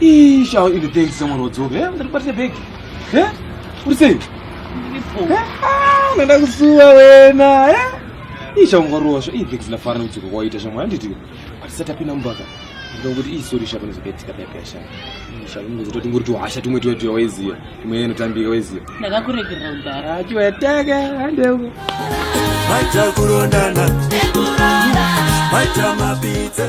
Isha in the day someone will talk. Eh, ndakubata bag. Eh? Uri sei? Ndipo. Eh? Ah, nenda kusuwa wena. Eh? Isha ungarosha. Ii bag zilafana nokuti kwaita shamwa handiti. Atisata pina mumbaka. Ndokuti ii sorry shapa nezokaitika bag yasha. Isha ungozototi ngori tuhasha tumwe tuya tuya weziya. Imwe inotambika weziya. Ndakakuregerera kudhara. Achiwa yataka hande uko. Maita kurondana. Maita mapitse.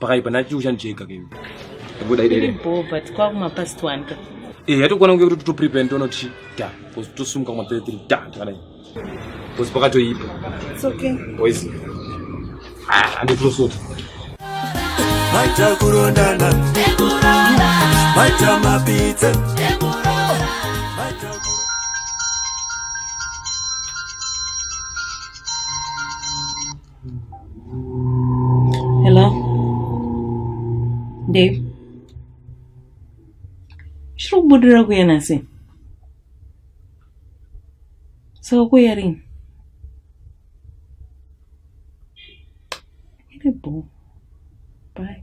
pakaipa ndati uchandicheka ke kubuda iri bho but kwa kuma past one ka eh yatokwana kunge kuti to prepare ndono chi da cuz to sumuka kuma 3 da kana cuz pakato ipo it's okay boys ah andi to sort Maita kurondana Ekurora Maita mapitse Ekurora Maita Hello? Dave? Shiro kubudura kuya nasi? So kuya rini? Ine boo. Bye.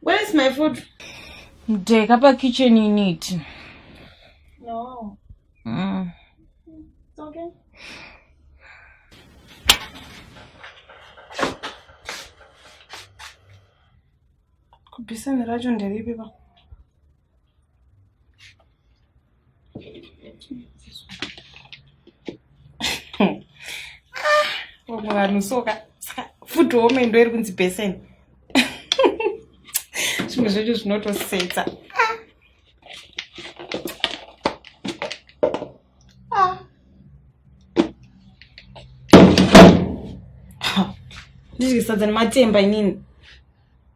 Where is my food? Mdeka pa kitchen in it. No. Mm. It's okay. Kubisa ni rajo nderipi ba? vamwe vanhu soka food home ndo iri kunzi besen zvimwe zvedu zvinotosetsa ndidyisadza nematemba inini